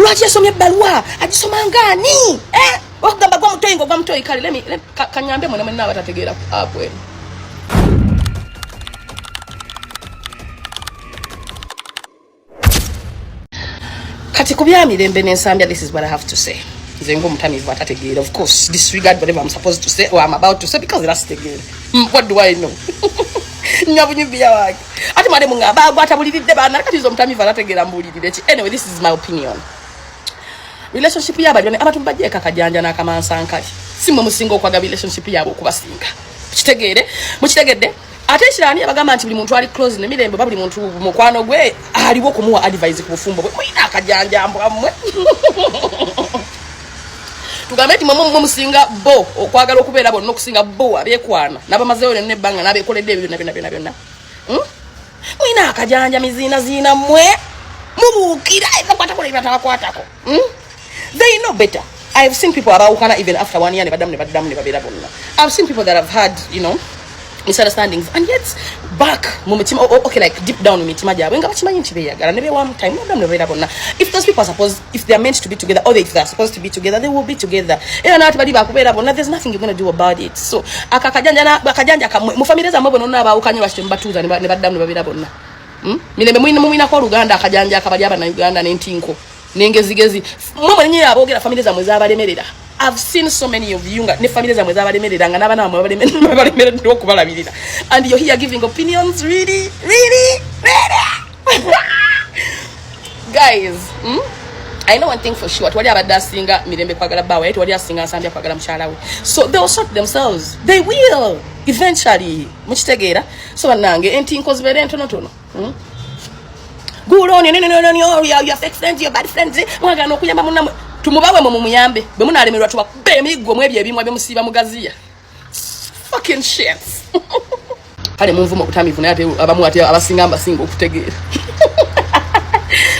Lwaki yasomye ebbaluwa agisoma ngaani eh? okugamba gwa mutoyi ngogwa mutoyi kale lemi kanyambe mwena mwena abatategeera apu eno kati ku byamirembe n'ensambya this is what i have to say nze ngaomutamivu atategeera of course disregard whatever i'm supposed to say or i'm about to say because era sitegeera hmm, what do i know nyabunyubiya wange ati mwade munga bagu atabuliride bana kati zo mutami vana tegera mbuliride ki anyway this is my opinion relationship yaba jone abatu mbaje kaka janja na kama nsanka simwe musingo kwa relationship yabo kubasinga kitegere mukitegede ate kirani abagamba nti buli muntu ali close ne mirembe babuli muntu mukwano gwe aliwo kumuwa advice ku bufumbo bwe mwina akajanja mbwa mwe tugambe nti mwemwe mumwe musinga bo okwagala okubeera bonna okusinga bo abekwana nabamazeyo lyonna ebbanga nabekoledde ebyo byonna byonna byonna byonna hmm? mulina akajanja miziinaziina mwe mubuukira ebakwatako nebatabakwatako hmm? they know better i have seen people abawukana even after one year nebaddamu nebaddamu nebabeera bonna ihave seen people that have had you know misunderstandings and yet back mu mutima oh, okay like deep down mu mitima gyabwe nga bakimanyi nti beyagala ne bewamu time no damu nebeera bonna if those people are supposed if they are meant to be together or if they are supposed to be together they will be together era naati bali bakubeera bonna there's nothing you're going to do about it so aka akajanja na akajanja kamwe mu family zamwe bono na baawukanye lwaki tembatuuza ne baddamu ne babeera bonna hmm? mirembe mulina mulinako oluganda akajanja akabali abana uganda n'entinko nengezigezi mwe mwenye abogera family zamwe zabalemerera I've seen so many of you ne family zamwe zabalemerera nga nabana bamwe babalemerera babalemerera okubalabirira and you're here giving opinions really really really guys hmm? I know one thing for sure twali abadde asinga mirembe kwagala bawe twali asinga nsambya kwagala mukyala we so they will sort themselves they will eventually mukitegeera so banange entinko zibeera entonotono Hmm? Good on you, no, no, no, no, no, your, your fake friends, your bad friends, eh? mwagana okuyamba munamwe tumubawe mu mumuyambe bwe munalemerwa tubakuba emiggo mu ebyo ebimwa byemusiiba mugaziya fucking shit kale munvuma okutamivu naye ate abamu ate abasinga mbasinga okutegeera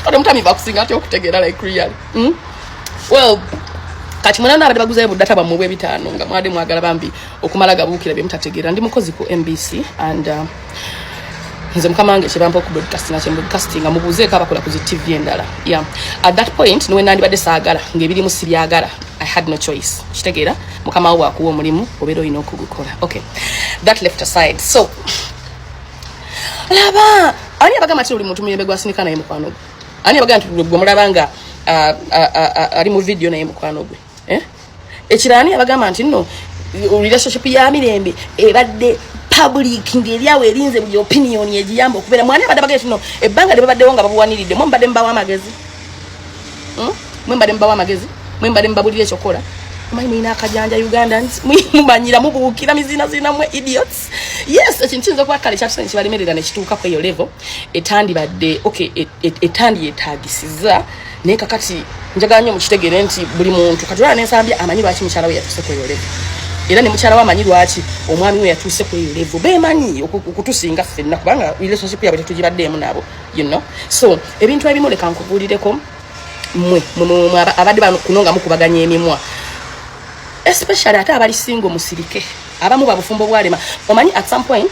ate mutamivu akusinga ate okutegeera like real hmm? well kati mwana nabadde baguzayo budata bwamwe bwebitaano nga mwade mwagala bambi okumala gabuukira byemutategeera ndi mukozi ku mbc and uh, nze mukama wange kyebampa okubroadcastinga kyemubroadcastinga mubuuzeeko abakola ku zi tv endala ya at that point niwe nandibadde saagala ngaebirimu sibyagala i had no choice kitegeera mukama wo wakuwa omulimu obeera olina okugukola okay that left aside so laba ani abagamba ti oli muntu muyembe gwasinika naye mukwano gwe ani abagamba ti gwe mulaba nga uh, uh, uh, ali mu vidiyo naye mukwano gwe eh? ekirani abagamba nti no relationship ya mirembe ebadde public ngeri awo erinze buli opinion egiyamba okubeera mwani abadde bagee tino ebbanga lye babaddewo nga babuwaniridde mwe mbadde mubawa amagezi hmm? mwe mbadde mubawa amagezi mwe mbadde mubabulira ekyokukola omanyi mulina akajanja ugandans mumanyira mubuukira mizinazina mwe idiots yes ekintu kiyinza okuba kale kyatusani kibalemerera nekituuka kweyo levo etandibadde okay e, e, etandi yetagisiza naye kakati njagala nyo mukitegere nti buli muntu kati olaba nensambi amanyi lwaki mukyala we yatuse kweyo levu era ne mukyala we amanyi lwaki omwami we yatuse kweyo levu bemanyi okutusinga ffenna kubanga relationship yabwe tetugibaddeemu nabo you know so ebintu ebimu leka nkubuulireko mwe abadde bano kuno nga mukubaganya emimwa especially ate abali singo musirike abamu babufumbo bwalema omanyi at some point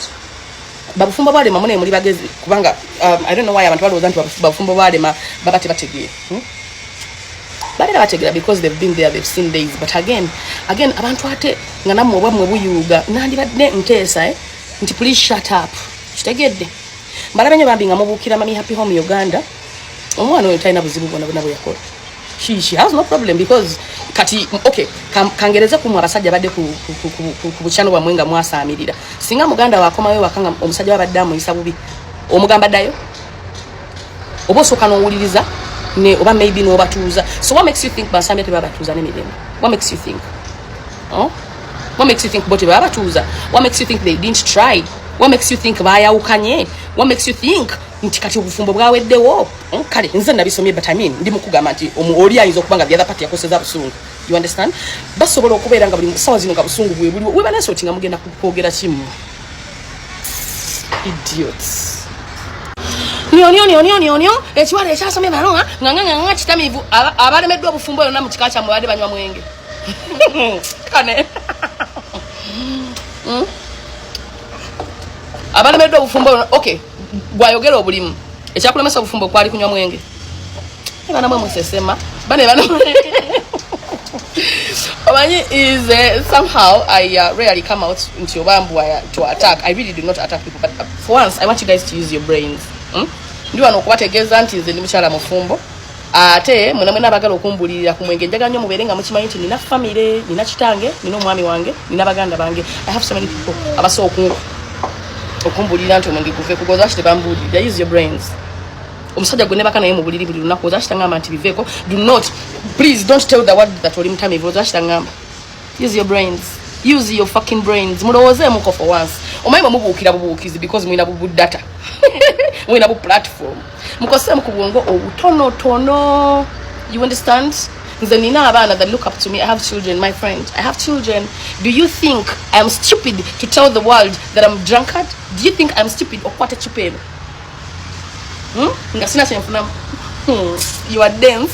babufumbo bwalema mune muli bagezi kubanga um, i don't know why abantu balowooza nti babufumbo bwalema baba tebategeera hmm? balera bategeera because they've been there they've seen days but again again abantu ate nga namwe oba mwe buyuuga nandibadde nteesa eh? nti please shut up kitegedde mbalabe nyo bambi nga mubuukira mami happy home uganda omwana oyo talina buzibu bwona bwona bweyakola she, she has no problem because kati okay kangereze kumwe abasajja badde ku bukyano bwamwe nga mwasaamirira singa muganda wakomayo wakanga omusajja wabadde amuyisa bubi omugamba ddayo oba osooka n'owuliriza ne oba maybe n'obatuuza so what makes you think basambya tebabatuuza nemirembe what makes you think oh? what makes you think bo tebabatuuza what makes you think they didn't try what makes you think bayawukanye what makes you think nti kati obufumbo bwaweddewo hmm, kale nze nabisomye but I mean ndi mukugamba nti oli ayinza okuba nga the other party yakoseza busungu you understand basobola okubeera nga buli sawa zino nga busungu bwebuliwo webanasoti nga mugenda kwogera kimu idiots nyonyonyonyonyonyo ekiwala ekyasomye baloa nganganganga kitamivu abalemeddwa obufumbo yona mu kika kyamwe badde banywa mwenge kane hmm? abalemeddwa obufumbo ok gwayogera obulimu ekyakulemesa obufumbo kwali kunywa mwenge bana mwe musesema bane bana omanyi is uh, somehow i uh, rarely come out nti oba mbu uh, to attack i really do not attack people but uh, for once i want you guys to use your brains hmm? ndi wano okubategeeza nti nze ndi mukyala mufumbo ate mwena mwena abagala okumbulirira ku mwenge njaga nnyo mubeere nga mukimanyi nti nina famire nina kitange nina omwami wange nina baganda bange i have so many people abasa okumbulirira nti omwenge guve kugoza kite bambulirira use your brains omusajja gwe nebaka naye mubuliri buli lunaku oza kitangamba nti biveeko do not please don't tell the world that oli mutamivu oza kitangamba use your brains use your fucking brains mulowooze muko for once omanyi bwe mubuukira bubuukizi because mulina bubu data mulina bu platform mukoseemu ku bwongo obutonotono you understand nze nina abaana that look up to me i have children my friend i have children do you think i am stupid to tell the world that i'm drunkard do you think i'm stupid okukwata ecupa eno hmm? nga sina kyenfunamu hmm. you are dense